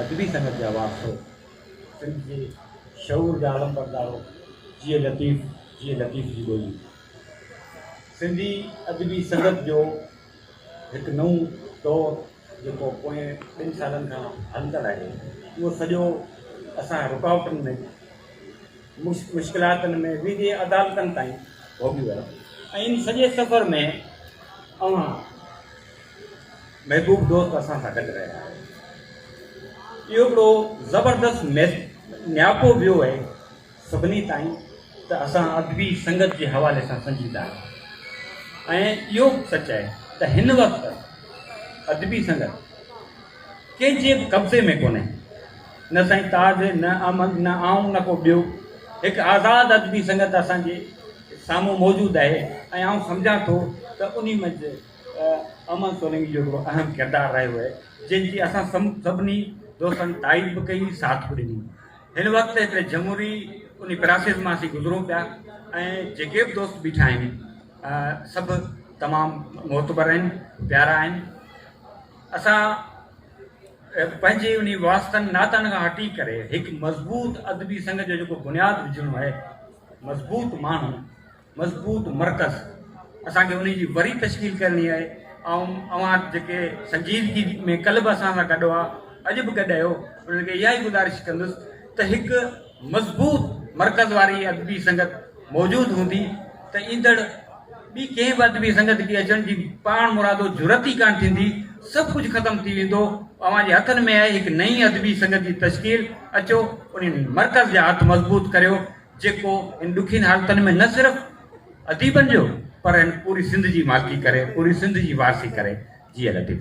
ادبي سنگت جا وارثو، سنڌ جي شعور جا علمبردارو، جيئي لطيف، جيئي لطيف جي ٻولي. سنڌي ادبي سنگت جو هڪ نئون دور جيڪو پوئين ٻن سالن کان هلندڙ آهي، اهو سڄو اسان رڪاوٽن ۾ مشڪلاتن ۾ ويندي عدالتن تائين ڀوڳي ويو ۽ ان سڄي سفر ۾ اوهان محبوب دوست اسان سان گڏ رهيا آهن. اهو هڪڙو زبردست نياپو ويو اهي سڀني تائين ته اسان ادبي سنگت جي حوالي سان سنجيده آهيون ۽ اهو به سچ اهي ته هن وقت ادبي سنگت ڪنهن جي به قبضي ۾ ڪونهي نه سائين تاج نه احمد نه آئون نه ڪو ٻيو هڪ آزاد ادبي سنگت اسان جي سامهون موجود اهي ۽ آئون سمجهان ٿو ته انهي منجهه امن سولنگي جو هڪڙو اهم ڪردار رهيو آهي جنهن جي اسان سڀني دوستن تائيد به ڪئي ساٿ به ڏني هن وقت هڪڙي جمهوري انهي پراسيس مان اسين گذرون پيا ۽ جيڪي به دوست بيٺا آهن سڀ تمام معتبر آهن پيارا آهن اسان پنهنجي انهي واسطن ناتن کان هٽي ڪري هڪ مضبوط ادبي سنگ جو جيڪو بنياد وجهڻو آهي مضبوط ماڻهو مضبوط مرڪز اسان کي انهي جي وري تشڪيل ڪرڻي آهي آئون اوهان جيڪي سنجيدگي ۾ ڪل به اسان سان گڏ هئا اڄ به گڏ اهيو انهن کي اها ئي گذارش ڪندس ته هڪ مضبوط مرڪز واري ادبي سنگت موجود هوندي ته ايندڙ ٻي ڪنهن به ادبي سنگت کي اچڻ جي پاڻ مرادو جرئت ئي ڪانه ٿيندي سڀ ڪجهه ختم ٿي ويندو اوهان جي هٿن ۾ آهي هڪ نئين ادبي سنگت جي تشڪيل اچو انهي مرڪز جا هٿ مضبوط ڪريو جيڪو ان ڏکين حالتن ۾ نه صرف اديبن جو پر ان پوري سنڌ جي مالڪي ڪري پوري سنڌ جي وارثي ڪري جيئل اديب.